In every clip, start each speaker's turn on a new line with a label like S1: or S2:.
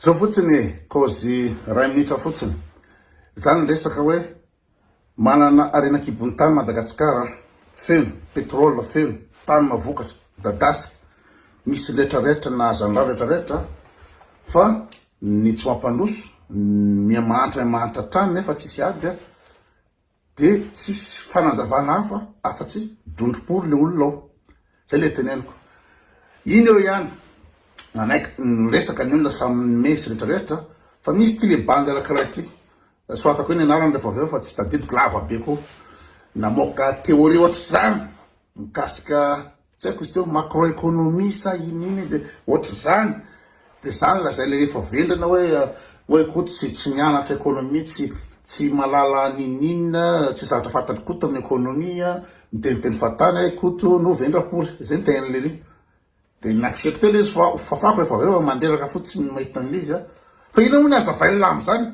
S1: Zao fotsiny e, kôzy ray minitra fotsiny. Zany ny resaka hoe manana harena kibon'ny tany Madagascar a! Feno pétrole, feno tany mavokatra, midadasika, misy ny rehetra rehetra nahazo an'irao rehetra rehetra fa ny tsy mampandroso miha mahantra miha mahantra hatrany nefa tsisy ady a! Dia tsisy fanazavana hafa afa-tsy dondrom-pory ilay olona ao. Izay ilay teneniko. Iny eo ihany, nanaiky niresaka ny olona samy nimehy sy rehetra rehetra, fa misy ity ilay bandy anankiray ity, soratako eo ny anarany rehefa avy eo fa tsy tadidiko lava be koa, namoaka théorie ohatr'izany mikasika Tsy haiko izy teo macroeconomie sa in'iny dia ohatr'izany, dia izany lazaina rehefa vendrana hoe hoe koa tsy tsy nianatra economie tsy tsy malala an'in'inona tsy zavatra fantany koto amin'ny economie an, miteniteny fahatany ahy koto no vendra akory, izay ny tenin'i lery, dia nafihiko teo le izy fa fafako rehefa avy eo mandreraka fotsiny ny mahita an'ilay izy an, fa inona moa ny hazavain'ny lamba izany?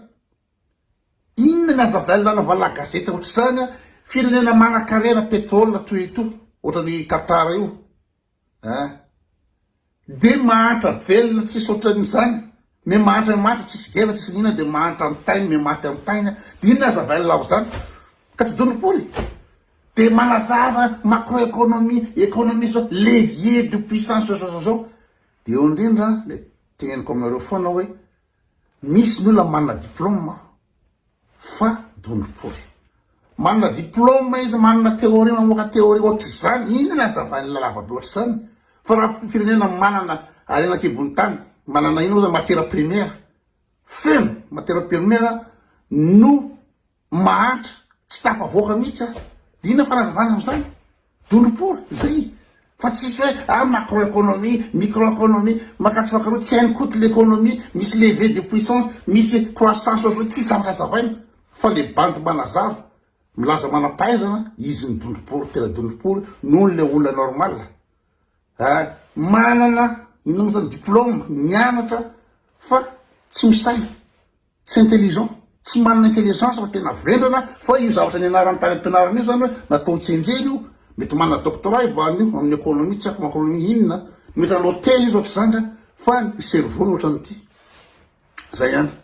S1: Inona ny aza avail nanaovana gazety ohatr'izany an, firenena manankarena petrole toy ito ohatran'i Qatar io an de mahantra velona tsisy ohatran'izany me mahantra me mahantra tsisy gera tsisy ny inona de mahantra am tainy me maty am tainy an de inona aza avail ao zany ka tsy donopoly de manazava macro economie economie zao levier de puissance zao zao zao zao de eo indrindra le teneniko aminareo foana hoe Misy ny olona manana diploma fa dondro pory. Manana diploma izy, manana theorie, mamoaka theorie ohatr'izany, inona ny hazavain'ny lavabe ohatr'izany? Fa raha firenena manana harena an-kibon'ny tany, manana inona moa izany, matières premières feno, matières premières no mahantra tsy tafavoaka mihitsy a! Inona fanazavana amin'izany? Dondrom-pory izay fa tsisy hoe ah macroeconomie, microeconomie, makatso makaroa tsy hainy koto l'economie, misy levée de puissance, misy croissance ohatr'izao tsy zavatra hazavaina fa le bandy manazava milaza manam-pahaizana izy ny dondrom-pory tena dondrom-pory noho ny le olona normal a! Manana inona moa izany diplôme, nianatra fa tsy misaina. Tsy intelligent, tsy manana intelligence fa tena vendrana fa io zavatra nianarany tany ampianarana io zany hoe natao hitsenjera io, mety manana doctorat i Bano io amin'ny economie tsy haiko macronomie inona, mety nanao thé izy ohatr'izany nga fa ny cerveau-ny ohatran'ity. Zay ihany.